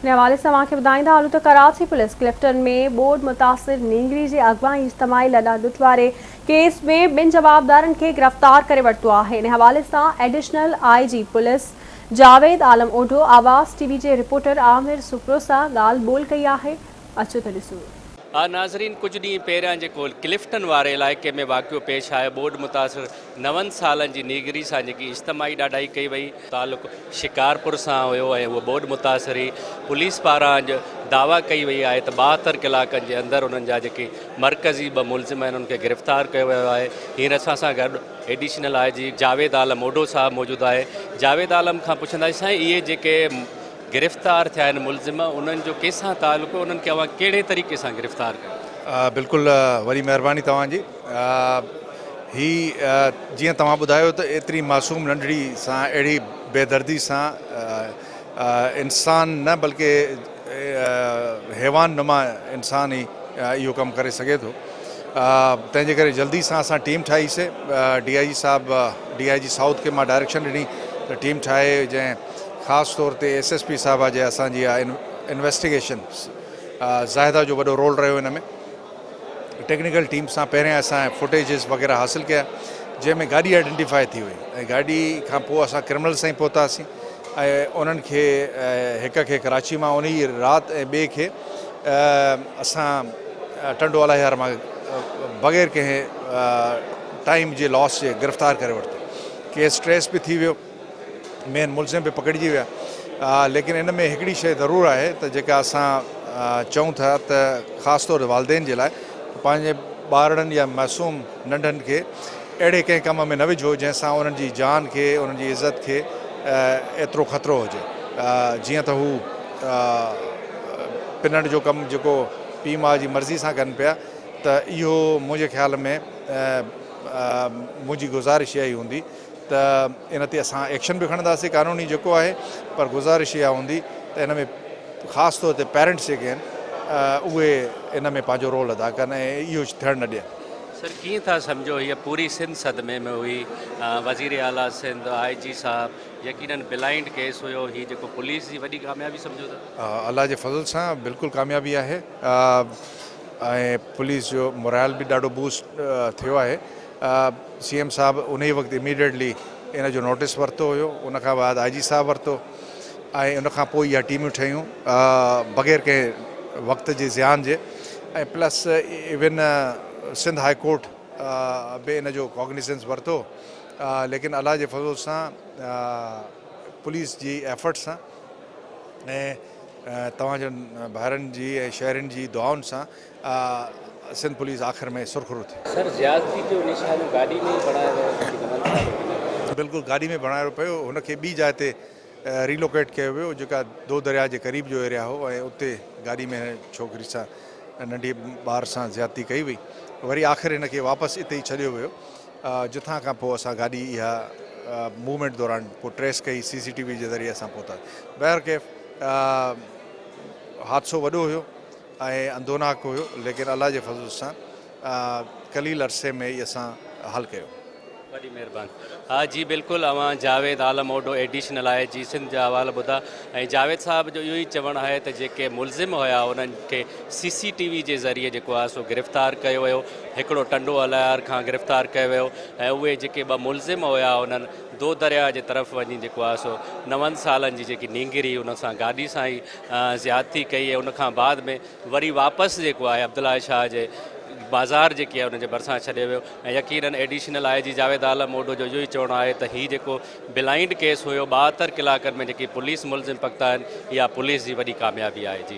ان حوالي سان اوهان کي ٻڌائيندا هلون ته ڪراچي پوليس ڪلفٽن ۾ ٻوڏ متاثر نينگري جي اغوا ۽ اجتماعي لڏا لٽ واري ڪيس ۾ ٻن جوابدارن کي گرفتار ڪري ورتو آهي ان حوالي سان additional I G police Javed Alam Odho Awaz T V جي رپورٽر عامر سپروسا ڳالهه ٻولهه ڪئي آهي اچو ته ڏسون آء ناظرين ڪجهه ڏينهن پهريان جيڪو ڪلفٽن واري علائقي ۾ واقعو پيش آيو ٻوڏ متاثر نون سالن جي نيگري سان جيڪي اجتماعي ڏاڍائي ڪئي وئي تعلق شڪارپور سان هيو ۽ هوء ٻوڏ متاثر هئي پوليس پاران اڄ دعويٰ ڪئي وئي آهي ته ٻاهتر ڪلاڪن جي اندر انهن جا جيڪي مرڪزي ٻه ملزم آهن انهن کي گرفتار ڪيو ويو آهي هينئر اسان سان گڏ ايڊيشنل آء جي جاويد عالم اوڍو صاحب موجود آهي جاويد عالم کان پڇنداسين سائين اهي جيڪي گرفتار ٿيا آهن ملزم انهن جو ڪنهن سان تعلق هو انهن کي اوهان ڪهڙي طريقي سان گرفتار ڪيو. بلڪل وڏي مهرباني توهان جي هي جيئن توهان ٻڌايو ته ايتري معصوم ننڍڙي سان اهڙي بي دردي سان انسان نه بلڪه حيوان نما انسان ئي اهو ڪم ڪري سگهي ٿو تنهن جي ڪري جلدي سان اسان ٽيم ٺاهي سي ڊي آء جي صاحب ڊي آء جي سائوٿ کي مان ڊائريڪشن ڏني ته ٽيم ٺاهي جنهن خاص طور تي ايس ايس پي صاحبه جي اسان جي اها انويسٽيگيشن زاهده جو وڏو رول رهيو ان ۾ ٽيڪنيڪل ٽيم سان پهرين اسان فوٽيجز وغيره حاصل ڪيا جنهن ۾ گاڏي آئيڊينٽيفائي ٿي وئي ۽ گاڏي کان پوء اسان ڪرمنل سائين پهتاسين انهن کي هڪ کي ڪراچي مان ان جي رات ۽ ٻئي کي اسان ٽنڊو الاهيار مان بغير ڪنهن ٽائيم جي لاس جي گرفتار ڪري ورتو ڪيس ٽريس به ٿي ويو مين ملزم به پڪڙجي ويا ليڪن ان ۾ هڪڙي شيء ضرور آهي ته جيڪا اسان چئون ٿا ته خاص طور والدين جي لاء ته پنهنجي ٻارڙن يا معصوم ننڍن کي اهڙي ڪنهن ڪم ۾ نه وجهو جنهن سان انهن جي جان کي انهن جي عزت کي ايترو خطرو هجي جيئن ته هو پنڻ جو ڪم جيڪو پيء ماء جي مرضي سان ڪن پيا ته اهو منهنجي خيال ۾ منهنجي گذارش اهائي هوندي ته ان تي اسان ايڪشن به کڻنداسين قانوني جيڪو آهي پر گذارش اها هوندي ته ان ۾ خاص طور تي پيرنٽس جيڪي آهن اهي ان ۾ پنهنجو رول ادا ڪن ۽ اهو ٿيڻ نه ڏين. سر ڪيئن ٿا سمجهو هيء پوري سنڌ صدمي ۾ هئي وزير اعليٰ سنڌ آء جي صاحب يقينن بلائنڊ ڪيس هيو هي جيڪو پوليس جي وڏي ڪاميابي سمجهو ٿا؟ الله جي فضل سان بلڪل ڪاميابي آهي ۽ پوليس جو مورائل به ڏاڍو بوسٽ ٿيو آهي. سي ايم صاحب انهي وقت اميڊيٽلي ان جو نوٽس ورتو هيو ان کان بعد آء جي صاحب ورتو ۽ ان کان پوء اها ٽيمون ٺهيون بغير ڪنهن وقت جي زيان جي ۽ plus even Sindh high court به ان جو ڪاگنيسنس ورتو ليڪن الله جي فضل سان پوليس جي ايفرٽ سان ۽ توهان جن ڀائرن جي ۽ شهرين جي دعائن سان سنڌ پوليس آخر ۾ سرخرو ٿي. سر زيادتي جو نشانو گاڏي ۾ ئي بڻايو ويو جيڪي نمن ساهه جو ڪنهن ڪيو. بلڪل گاڏي ۾ بڻايو پيو هن کي ٻي جاء تي ريلوڪيٽ ڪيو ويو جيڪا دو درياء جي قريب جو ايريا هو ۽ اتي گاڏي ۾ هن ڇوڪري سان ننڍي ٻار سان زيادتي ڪئي وئي وري آخر هن کي واپس اتي ئي ڇڏيو ويو جٿان کان پوء اسان گاڏي اها موومينٽ دوران پوء ٽريس ڪئي سي سي ٽي وي جي ذريعي اسان پهتاسين بهرڪيف حادثو وڏو هيو. ۽ اندوناڪ هيو ليڪن الله جي فضل سان قليل عرصي ۾ ئي اسان حل ڪيو. وڏي مهربان. ها جي بلڪل اوهان جاويد عالم اوڊو ايڊيشنل آهي جي سنڌ جا احوال ٻڌا ۽ جاويد صاحب جو اهو ئي چوڻ آهي ته جيڪي ملزم هيا انهن کي سي سي ٽي وي جي ذريعي جيڪو آهي سو گرفتار ڪيو ويو هڪڙو ٽنڊو الهيار کان گرفتار ڪيو ويو ۽ اهي جيڪي ٻه ملزم هيا انهن دودرياء جي طرف وڃي جيڪو آهي سو نون سالن جي جيڪي نينگري ان سان گاڏي سان ئي زيادتي ڪئي ۽ ان کان بعد ۾ وري واپس جيڪو آهي عبدالله شاهه جي بازار جيڪي آهي ان جي ڀرسان ڇڏيو ويو ۽ يقينن ايڊيشنل آء جي جاويد عالم اوڍو جو اهو ئي چوڻ آهي ته هي جيڪو بلائنڊ ڪيس هيو ٻاهتر ڪلاڪن ۾ جيڪي پوليس ملزم پڪتا آهن اها پوليس جي وڏي ڪاميابي آهي جي.